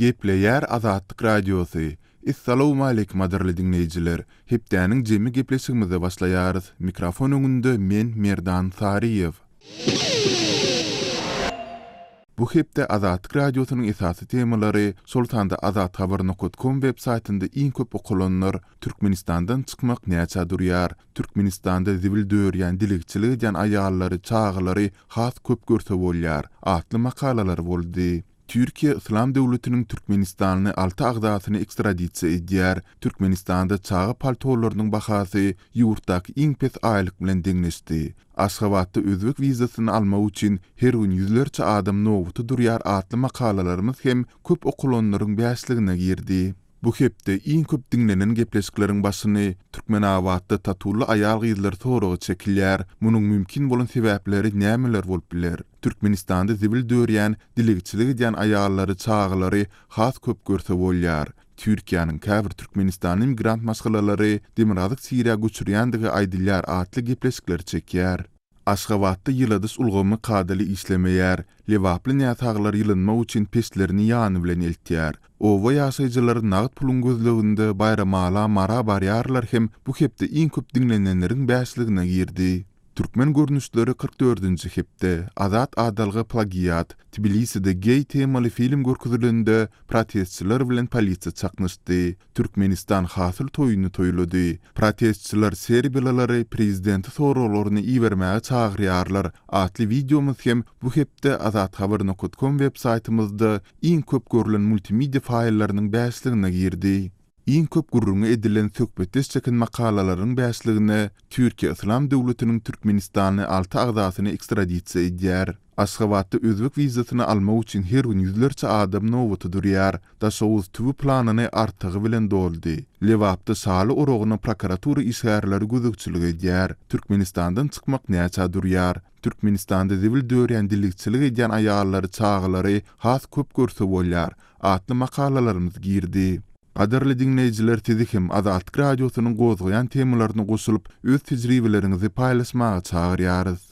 Gepleýär Azatlyk Radiosy, Essalawmaleýkim gadyrly diňleýjiler! Hepdäniň jemi gepleşigimize başlaýarys. Mikrofon öňünde men Merdan Saryýew. Bu hepde Azatlyk Radiosynyň esasy temalary, şol sanda Azathabar nokat kom web saýtynda iň köp okalanlar, Türkmenistandan çykmak näçä durýar, Türkmenistanda zibil dörýän dilegçilik edýän aýallary, çagalary has köp görse bolýar, atly makalalar boldy. Türkiýe Yslam döwletiniň türkmenistanly alty agzasyny ekstradisiýa edýär. Türkmenistanda çaga paltolarynyň bahasy ýurtdaky iň pes aýlyk bilen deňleşdi. Aşgabatda özbek wizasyny almak üçin her gün ýüzlerçe adam nobata durýar atly makalalarymyz hem köp okulanlaryň bäşligine girdi. Bu hepde iň köp diňlenen gepleşikleriň başyny Türkmenabatda tatuly aýal-gyzlar soragy çekilýär. Munuň mümkin bolan sebäpleri nämeler bolup biler? Türkmenistanda zibil dörýän, dilegçilik edýän aýallary, çagalary has köp görse bolýar. Türkiýäniň käbir türkmenistanly migrant maşgalalary demirgazyk Siriýa göçürýändigi aýdylýar atly gepleşikler çekýär. Aşgabatda ýyladyş ulgamy kadaly işlemeýär. Lebaply näsaglar ýylynmak üçin peçlerini ýany bilen eltýär. Oba ýaşaýjylary nagt puluň gözleginde Baýramala Mara barýarlar hem bu hepde iň köp diňlenenleriň bäşligine girdi. Türkmen görnüşleri kyrk dördünji hepde, Azat Adalga plagiat, Tbiliside geý temaly film görkezilende protestçiler bilen polisiýa çaknyşdy, Türkmenistan hasyl toýuny toýlady, Protestçiler serbiýalylary prezidente soraglaryny ibermäge çagyrýarlar atly wideomyz hem bu hepde azathaber-nokatkom web-saýtymyzda iň köp görlen multimediýa faýllarynyň bäşligine girdi. Iň köp gürrüňi edilen söhbetdeş çeken makalalaryň bäşligine Türkiýe Yslam döwletiniň Türkmenistany alty agzasyny ekstradisiýa edýär. Aşgabatda özbek wizasyny almak üçin her gün ýüzlerçe adam nobata durýar. Daşoguz tüwi planyny artygy bilen doldy. Lebapda şaly oragyna prokuratura işgärleri gözegçilik edýär. Türkmenistandan çykmak näçä durýar? Türkmenistanda zibil dörýän dilegçilik edýän aýallary, çagalary has köp görse bolýar atly makalalarymyz girdi. Gadyrly diňleýjiler sizi hem Azatlyk Radiosynyň gozgaýan temalaryna goşulyp öz tejribeleriňizi paýlaşmaga çagyrýarys.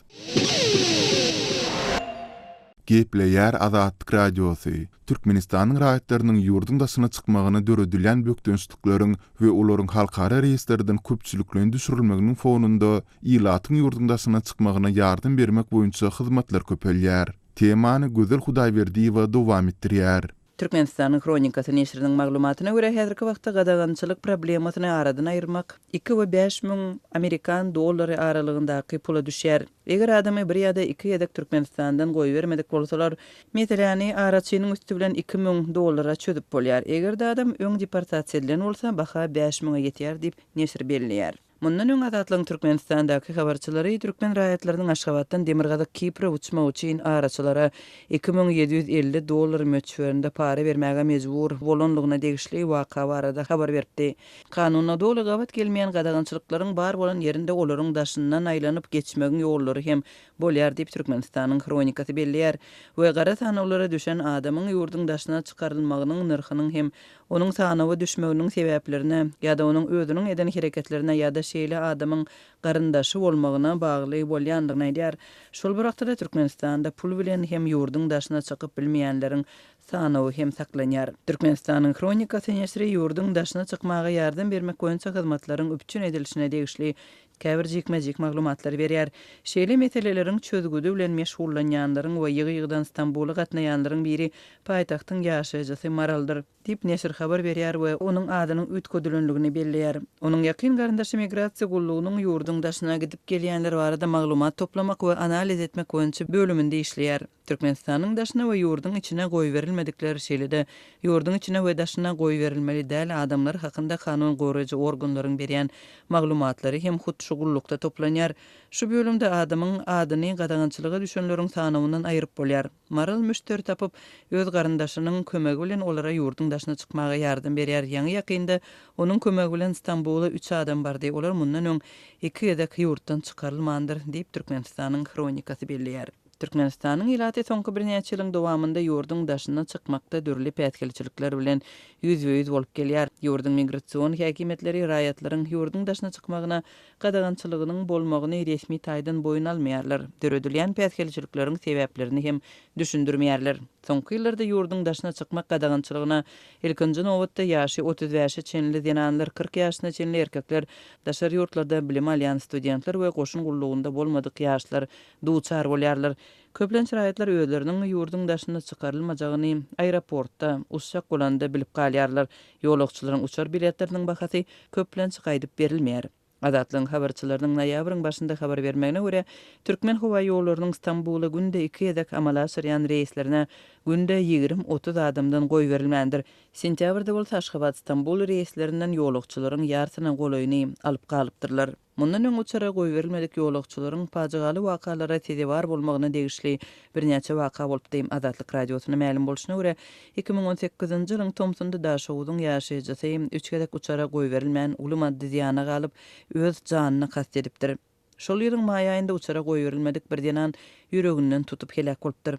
Gepleýär Azatlyk Radiosy, Türkmenistanyň raýatlarynyň ýurduň daşyna çykmagyna döredilýän bökdençlikleriň we olaryň halkara reýslerden köpçülikleýin düşürilmeginiň fonunda, Ilatyň ýurduň daşyna çykmagyna ýardam bermek boýunça hyzmatlar köpelýär. Temany Gözel Hudaýberdiýewa dowam etdirýär. Türkmenistanyň Hronikasy neşiriniň maglumatyna görä, häzirki wagtda gadagançylyk problemasyny aradan aýyrmak iki we bäş müň amerikan dollary aralygyndaky pula düşýär. Eger adamy bir ýa-da iki gezek Türkmenistandan goýbermedik bolsalar, meseläni araçynyň üsti bilen iki müň dollara çözüp bolýar. Eger-de adam öň deportasiýa edilen bolsa, baha bäş müňe ýetýär diýip, neşir belleýär. Mundan öň Azatlygyň Türkmenistandaky habarçylary türkmen raýatlarynyň Aşgabatdan Demirgazyk Kipre uçmagy üçin araçylara iki müň ýedi ýüz elli dollar möçberinde para bermäge mejbur bolanlygyna degişli waka barada habar beripdi. Kanuna doly gabat gelmeýän gadagançylyklaryň bar bolan ýerinde olaryň daşyndan aýlanyp geçmegiň ýollary hem bolýar diýip Türkmenistanyň hronikasy belleýär we gara sanawlara düşen adamyň ýurduň daşyna çykarylmagynyň nyrhynyň hem onuň sanawa düşmeginiň sebäplerine ýa-da onuň özüniň eden hereketlerine ýa-da şeýle adamyň garyndaşy bolmagyna bagly bolýandygyny aýdýar. Şol bir wagtda-da Türkmenistanda pul bilen hem ýurduň daşyna çykyp bilmeýänleriň sanawy hem saklanýar. Türkmenistanyň Hronikasy neşri ýurduň daşyna çykmaga ýardam bermek boýunça hyzmatlaryň üpjün edilişine degişli käbir jikme-jik maglumatlary berýär. Şeýle meseleleriň çözgüdi bilen meşgullanýanlaryň we ýygy-ýygydan Stambula gatnaýanlaryň biri paýtagtyň ýaşaýjysy Maraldyr, diýip, neşir habar berýär we onuň adynyň üýtgedilendigini belleýär. Onuň ýakyn garyndaşy Migrasiýa gullugynyň ýurduň daşyna gidip-gelýänler barada maglumat toplamak we analiz etmek boýunça bölüminde işleýär. Türkmenistanyň daşyna we ýurduň içine goýberilmedikler, şeýle-de ýurduň içine we daşyna goýberilmeli däl adamlar hakynda kanun goraýjy organlaryň berýän maglumatlary hem hut şu gullukda toplanýar. Şu bölümde adamyň adyny gadagançylyga düşenleriň sanawyndan aýyryp bolýar. Maral müşderi tapyp, öz garyndaşynyň kömegi bilen olara ýurduň daşyna çykmaga ýardam berýär. Ýaňy-ýakynda onuň kömegi bilen Stambula üç adam bardy, olar mundan öň iki gezek ýurtdan çykarylmandyr, diýip Türkmenistanyň Hronikasy belleýär. Türkmenistanyň ilaty soňky birnäçe ýylyň dowamynda ýurduň daşyna çykmakda dürli päsgelçilikler bilen ýüzbe-ýüz bolup gelýär. Ýurduň migrasion häkimiýetleri raýatlaryň ýurduň daşyna çykmagyna gadagançylygynyň bolmagyny resmi taýdan boýun almaýarlar, döredilýän päsgelçilikleriň sebäplerini hem düşündirmeýärler. Soňky ýyllarda ýurduň daşyna çykmak gadagançylygyna, ilkinji nobatda, ýaşy otuz bäşe çenli zenanlar, kyrk ýaşyna çenli erkekler, daşary ýurtlarda bilim alýan studentler we goşun gullugynda bolmadyk ýaşlar duçar bolýarlar. Köplenç raýatlar özleriniň ýurduň daşyna çykarylmajagyny aeroportda, uçjak bolanda bilip galýarlar. Ýolagçylaryň uçar biletleriniň bahasy köplenç gaýdyp berilmeýär. Azatlygyň habarçylarynyň noýabryň başynda habar bermegine görä, Türkmen howa ýollarynyň Stambula günde iki gezek amala aşyrýan reýslerine günde ýigrimi-otuz adamdan goýberilmändir. Sentýabrda bolsa Aşgabat-Stambul reýslerinden ýolagçylaryň ýarsyna golaýyny alyp galypdyrlar. Mundan öň uçara goýberilmedik ýolagçylaryň pajygaly wakalara sezewar bolmagyna degişli birnäçe waka bolupdy. Azatlyk Radiosyna mälim bolşuna görä, iki müň on sekizinji ýylyň tomsunda Daşoguzyň ýaşaýjysy üç gezek uçara goýberilmän uly maddy zyýana galyp, öz janyna kast edipdir. Şol ýylyň maý aýynda uçara goýberilmedik bir zenan ýüreginden tutup heläk bolupdyr.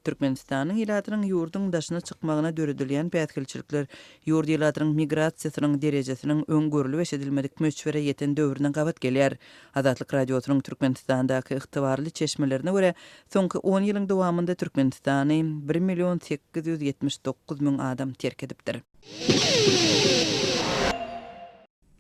Türkmenistanyň ilatynyň ýurduň daşyna çykmagyna döredilýän päsgelçilikler ýurt ilatynyň migrasiýasynyň derejesiniň öň görlüp-eşidilmedik möçbere ýeten döwrüne gabat gelýär. Azatlyk Radiosynyň Türkmenistandaky ygtybarly çeşmelerine görä, soňky on ýylyň dowamynda Türkmenistany bir million sekiz ýüz ýetmiş dokuz müň adam terk edipdir.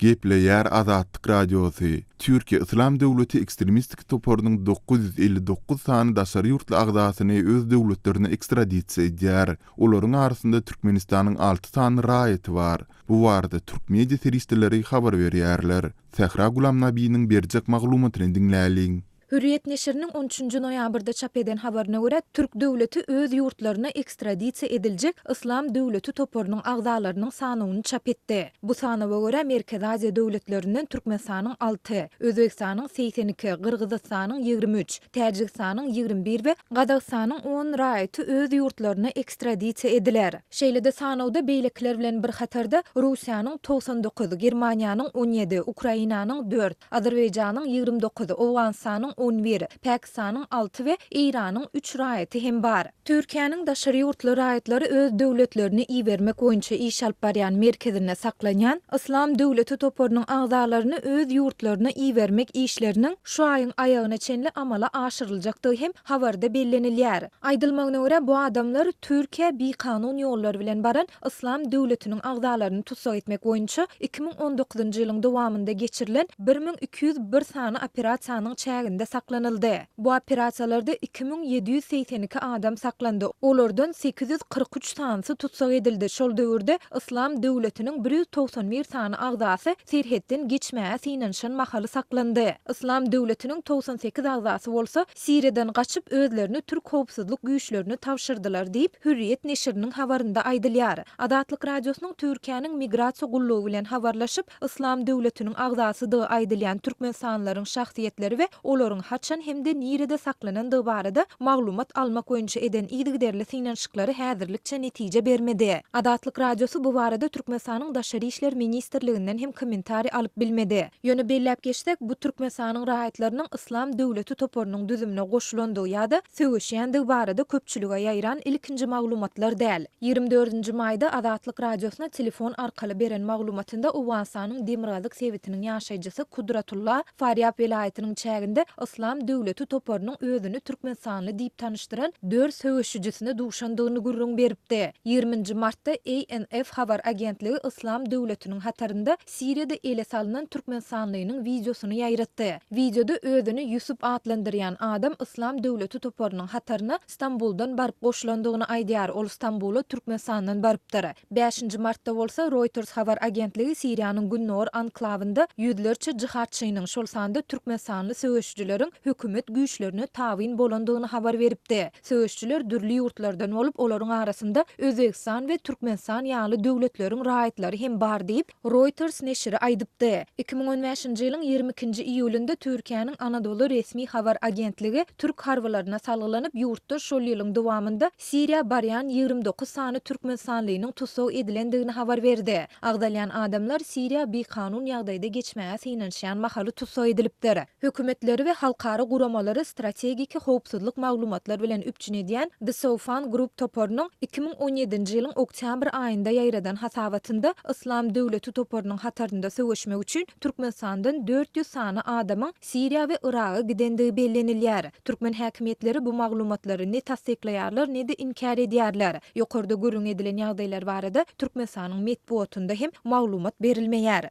Gepleýär Azatlyk Radiosy, Türkiýe Yslam döwleti ekstremistik toparynyň dokuz ýüz elli dokuz sany daşary ýurtly agzasyny öz döwletlerine ekstradisiýa edýär. Olaryň arasynda Türkmenistanyň alty sany raýaty bar. Bu barada türk media serişdeleri habar berýärler. Sähra Gulamnabiniň berjek maglumatyny diňläliň. Hürriýet neşiriniň on üçünji noýabrda çap eden habaryna görä, türk döwleti öz ýurtlaryna ekstradisiýa ediljek Yslam döwleti toparynyň agzalarynyň sanawyny çap etdi. Bu sanawa görä, Merkezi Aziýa döwletlerinden Türkmenistanyň alty, Özbegistanyň segsen iki, Gyrgyzystanyň ýigrimi üç, Täjigistanyň ýigrimi bir we Gazagystanyň on raýaty öz ýurtlaryna ekstradisiýa ediler. Şeýle-de sanawda beýlekiler bilen bir hatarda Russiýanyň togsan dokuz, Germaniýanyň on ýedi, Ukrainanyň dört, Azerbaýjanyň ýigrimi dokuz, Owganystanyň on bir, Pakistanyň alty we Eýranyň üç raýaty hem bar. Türkiýäniň daşary ýurtly raýatlary öz döwletlerini ibermek boýunça iş alyp barýan merkezinde saklanýan Yslam döwleti toparynyň agzalaryny öz ýurtlaryna ibermek işleriniň şu aýyň aýagyna çenli amala aşyryljakdygy hem habarda bellenilýär. Aýdylmagyna görä, bu adamlar Türkiýä bikanun ýollar bilen baran Yslam döwletiniň agzalaryny tussag etmek boýunça iki müň on dokuzynjy ýylyň dowamynda geçirilen bir müň iki ýüz bir sany operasiýanyň çäginde saklanyldy. Bu operasiýalarda iki müň ýedi ýüz segsen iki adam saklandy, olardan sekiz ýüz kyrk üç sanysy tussag edildi, şol döwürde Yslam döwletiniň bir ýüz togsan bir sany agzasy serhetden geçmäge synanyşan mahaly saklandy. Yslam döwletiniň togsan sekiz agzasy bolsa Siriýadan gaçyp, özlerini türk howpsuzlyk güýçlerine tabşyrdylar diýip, Hürriýet neşiriniň habarynda aýdylýar. Azatlyk Radiosynyň Türkiýäniň migrasiýa gullugy bilen habarlaşyp, Yslam döwletiniň agzasydygy aýdylýan türkmenistanlylaryň şahsyýetleri we olaryň haçan hem-de nirede saklanandygy barada maglumat almak boýunça eden yzygiderli synanyşyklary häzirlikçe netije bermedi. Azatlyk Radiosy bu barada Türkmenistanyň Daşary işler ministrliginden hem kommentariý alyp bilmedi. Ýöne belläp geçsek, bu Türkmenistanyň raýatlarynyň Yslam döwleti toparynyň düzümine goşulandygy ýa-da söweşýändigi barada köpçülige ýaýran ilkinji maglumatlar däl. Ýigrimi dördünji maýda Azatlyk Radiosyna telefon arkaly beren maglumatynda Owganystanyň demirgazyk sebitiniň ýaşaýjysy Kudratulla Farýap welaýatynyň çäginde Yslam döwleti toparynyň özüni türkmenistanly diýip tanyşdyran dört söweşijisine duşandygyny gürrüň beripdi. Ýigriminji martda ANF habar agentligi Yslam döwletiniň hatarynda Siriýada ele salnan türkmenistanlynyň wideosyny ýaýratdy. Wideoda özüni Ýusup atlandyrýan adam Yslam döwleti toparynyň hataryna Stambuldan baryp goşulandygyny aýdýar, ol Stambula Türkmenistandan barypdyr. Bäşinji martda bolsa, Reuters habar agentligi Siriýanyň gündogar anklawynda ýüzlerçe jyhadçynyň, şol sanda türkmenistanly söweşijileriň hökümet güýçlerine tabyn bolandygyny habar beripdi. Söweşijiler dürli ýurtlardan bolup, olaryň arasynda Özbegistan we Türkmenistan ýaly döwletleriň raýatlary hem bar diýip, Reuters neşiri aýdypdy. Iki müň on bäşinji ýylyň ýigrimi ikinji iýulynda Türkiýäniň Anadolu resmi habar agentligi türk harbylaryna salgylanyp, ýurtda şol ýylyň dowamynda Siriýa barýan ýigrimi dokuz sany türkmenistanlynyň tussag edilendigini habar berdi. Agzalýan adamlar Siriýa bikanun ýagdaýda geçmäge synanyşýan mahaly tussag edilipdir. Hökümetleri we halkara guramalary strategiki howpsuzlyk maglumatlar bilen üpjün edýän The Soufan Group toparynyň iki müň on ýedinji ýylyň oktýabr aýynda ýaýradan hasabatynda Yslam döwleti toparynyň hatarynda söweşmek üçin Türkmenistandan dört ýüz sany adamyň Siriýa we Yraga gidendigi bellenilýär. Türkmen häkimiýetleri bu maglumatlary ne tassyklaýarlar, ne-de inkär edýärler. Ýokarda gürrüň edilen ýagdaýlar barada Türkmenistanyň metbugatynda hem maglumat berilmeýär.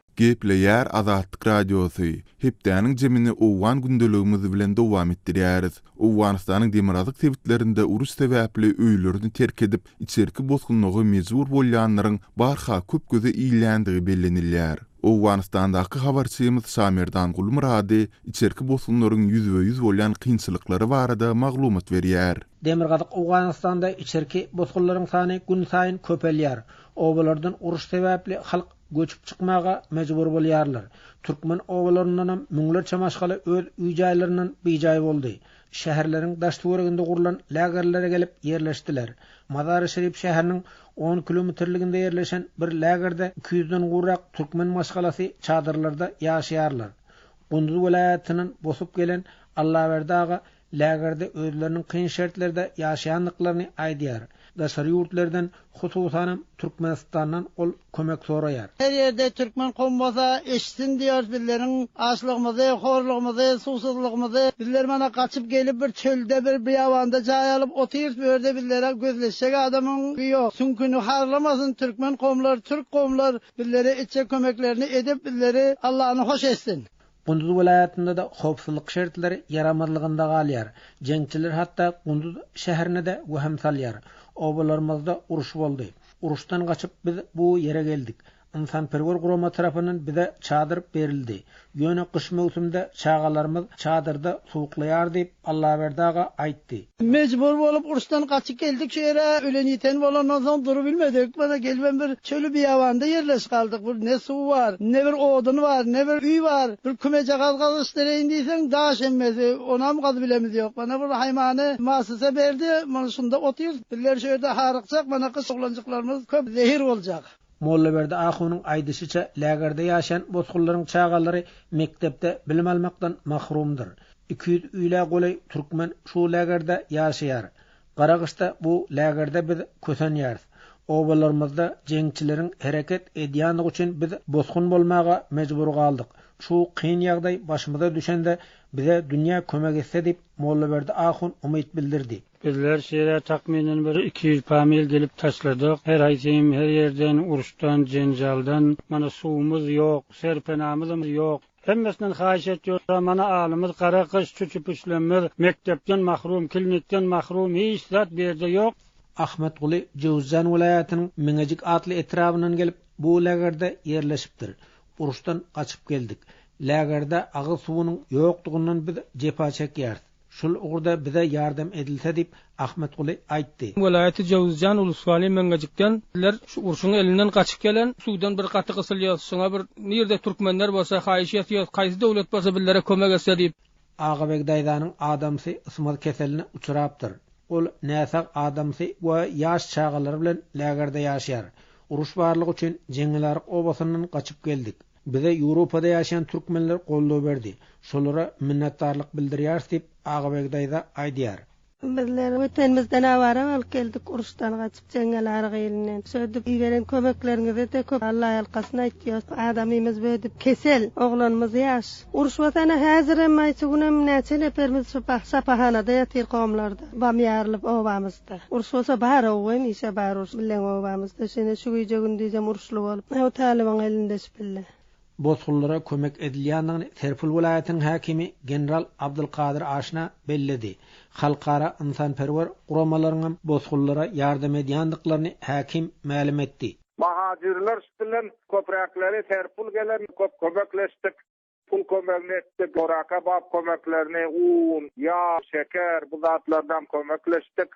Gepleýär Azatlyk Radiosy, Hepdäniň jemini owgan gündeligimiz bilen dowam etdirýäris. Owganystanyň demirgazyk sebitlerinde uruş sebäpli öýlerini terk edip, içerki bosgunlyga mejbur bolýanlaryň barha köp göze ilýändigi bellenilýär. Owganystandaky habarçymyz Şamerdan Gulmyrady içerki bosgunlaryň ýüzbe-ýüz bolýan kynçylyklary barada maglumat berýär. Demirgazyk Owganystanda içerki bosgunlaryň sany günsaýyn köpelýär. Obalardan uruş sebäpli halk göçüp çykmaga mejbur bolýarlar. Türkmen obalaryndanam müňlerçe maşgala öz üý-jaýlaryndan bijaý boldy. Şäherleriň daş-töwereginde gurlan lägerlere gelip ýerleşdiler. Mazary-Şerif şäheriniň on kilometrliginde ýerleşen bir lägerde iki ýüzden gowrak türkmen maşgalasy çadyrlarda ýaşaýarlar. Gunduz welaýatyndan bosup gelen Allaberdi aga lägerde özleriniň kyn şertlerde ýaşaýandyklaryny aýdýar. Daşary ýurtlardan, hususanam Türkmenistandan ol kömek soraýar. Her ýerde türkmen kowum bolsa, eşitsin diýýär bizleriň açlygymyzy, horlugymyzy, suwsuzlygymyzy. Bizler mana gaçyp gelip bir çölde, bir biýabanda jaý alyp otyrys, bu ýerde bizlere gözleşjek adamyň ýok. Süňküni harlamasyn türkmen kowumlar, türk kowumlar bizlere etjek kömeklerini edip, bizleri Allany hoş etsin. Gunduz welaýatynda-da howpsuzlyk şertleri ýaramazlygynda galýar. Jeňçiler hatda Gunduz şäherine-de wehim salýar. Obalarymyzda uruş boldy. Uruşdan gaçyp biz bu ýere geldik. Ynsanperwer gurama tarapyndan bize çadyr berildi. Ýöne gyş möwsümde çagalarymyz çadyrda suwuklaýar diýip, Allaberdi aga aýtdy. Mejbur bolup uruşdan gaçyp geldik şu ýere. Ölen-ýiten bolandan soň durubilmedik. Mana gelibem bir çöli-biýabanda ýerleşip galdyk. Bir ne suw bar, ne bir odun bar, ne bir öý bar. Bir kümejagaz gazyşdyreýin diýseň, daş emmesi. Onam gazybilemiz ýok. Mana bir haýmany müessise berdi. Mana şunda otyrys. Bizler şu ýerde harykjak. Mana gyş oglanjyklarymyz köp zehir boljak. Mollaberdi ahunyň aýdyşyça, lägerde ýaşaýan bosgunlaryň çagalary mekdepde bilim almakdan mahrumdyr. Iki ýüz ile golaý türkmen şu lägerde ýaşaýar. Garagyşda bu lägerde biz kösenýäris. Obalarymyzda jeňçileriň hereket edýänligi üçin biz bosgun bolmaga mejbur galdyk. Şu kyn ýagdaý başymyza düşende bize dünýä kömek etse diýip, Mollaberdi ahun umyt bildirdi. Bizler şeýle takmynan bir iki ýüz pamil gelip taşladyk. Her haýsym her ýerden, uruşdan, jenjaldan. Mana suwumyz ýok, serpenamyzam ýok. Hemmesinden haýyş etýoda mana alymyz gara gyş çüçüpüşlemez mekdepden mahrum kilnikden mahrum hiç zat berde ýok. Ahmetguly Jöwzjan welaýatynyň Meňejik atly etrabyndan gelip bu lägerde ýerleşipdir. Uruşdan gaçyp geldik. Lägerde agyz suwunyň ýokdugyndan biz jepa çekýäris. Şul ugurda bize ýardam edilse diýip, Ahmetguly aýtdy. Welaýaty Jowuzjan ulusgaly Meňejikden ler şu urşuň elinden gaçyp gelen suwdan bir gaty gysylýos şuňa bir nirde türkmenler bolsa haýyş etýos haýsy dowlet bolsa bizlere kömek etse diýip. Agabeg daýzanyň adamsy ysmaz keseline uçurapdyr. Ol näsag adamsy we ýaş çagalary bilen lägerde ýaşýar. Uruş barlygy üçin Jeňňilaryk obasyndan gaçyp geldik. Bize Ýewropada ýaşaýan türkmenler goldaw berdi. Şolara minnetdarlyk bildirýäris diýip, Agabegi daýza aýdýar. Bizler Wetenimizden awara bolup geldik, uruşdan gaçyp, jeňňel arygy elinden söýdüp, iberen kömekleriňize-de köp Allaýalkasyn aýtýarys. Adamymyz bödüp, kesel, oglanymyz ýaş. Uruş watana häzirem, aýçy günem näçe neperimiz şu sapahanada ýatyr, komlarda, bam ýarylyp obamyz. Ýatda. Uruş bolsa bar-ow, we mişe bar uruş. Bileň obamyzda şene şu gije gündizem uruşly bolup, ow talybyň elinde şpille. Bosgunlara kömek edilýändigini Serpul welaýatynyň häkimi general Abdylkadyr Aşna belledi. Halkara ynsanperwer guramalaryňam bosgunlara ýardam edýändiklaryny häkim mälim etdi. Mohajirler şpillen köpräkleri Serpul gelen köp kömekleşdik. Pul kömegini etdik, goraka bap kömeklerini, un, ýag, şeker, bu zatlardan kömekleşdik.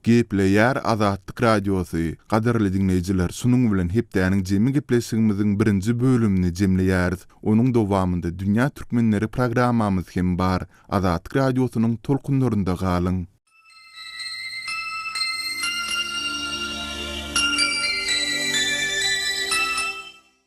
Gepleýär Azatlyk Radiosy, Gadyrly diňleýjiler, şunuň bilen hepdäniň jemi gepleşigimiziň birinji bölümini jemleýäris. Onuň dowamynda Dünýä türkmenleri programmamyz hem bar. Azatlyk Radiosynyň tolkunlarynda galyň.